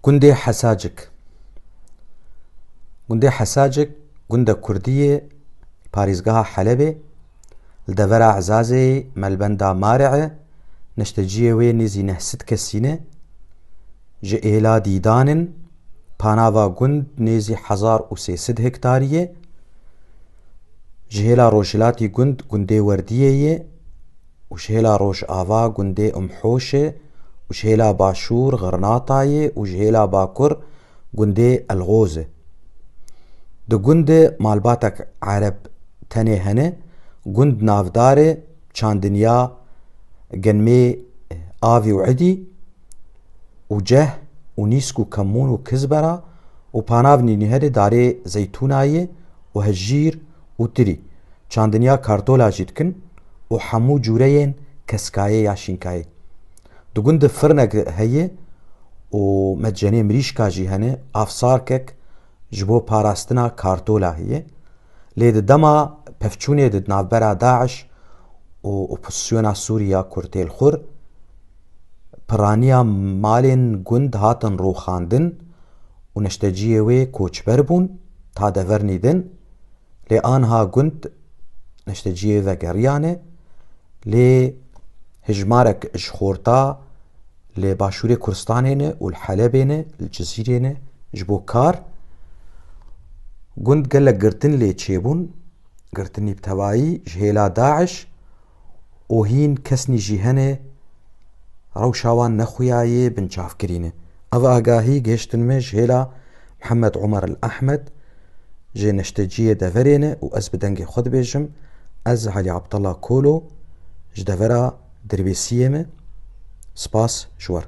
Gundê Hesacik Gundê Hesacik gunda kurdî yê li parêzgeha Helebê li devera Ezazeyê melbenda Mare e, neşteciyê wê nêzî neh sed kesî ne. Ji êla dîdan in, panava gund nêzî hezar û sê sed hektarî ye. Ji hêla rojhilatî gund gundê Werdiyê ye. û ji hêla rojava gundê Umhoşê û ji hêla başûr Xirnatayê û ji hêla bakur gundê Elxozê. Di gundê malbatek Ereb tenê hene, gund navdarê Çandinya Genmê Avî û Idî û Ceh û Nîsk û Kemûn û Kizbera û Panavnî nî herê darê Zeytûnayê û Hejîr û tirî, çandinya kartola jî dikin û hemû cûreyên keskayê ya şînkayê. Di gund de firinek heye û medcenê mirîşka jî hene, avsarkek ji bo parastina kartola heye. Lê di dema pevçûnê di navbera DAIŞ û opozîsyona Sûrî ya Kurtêlxur piraniya malên gund hatin rûxandin û neşteciyê wê koçber bûn ta dever nîdin. Lê anha gund neşteciyê vegeriyane lê hijmarek ji xorta li başûrê Kurdistanê ne û li Helebê ne li Cizîrê ne ji bo kar gund gelek girtin lê çêbûn girtinî bi tevayî ji hêla DAIŞ û hîn kesnî jî hene rewşa wan nexuya yê binçavkirîn e. Ev agahî gihiştin me ji hêla Mihemed Omer El Ehmed jê neşteciyê deverê ne û ez bi dengê xwe dibêjim ez Elî Abdella Kolo ji devera Dirbêsiyê me spas ji we re.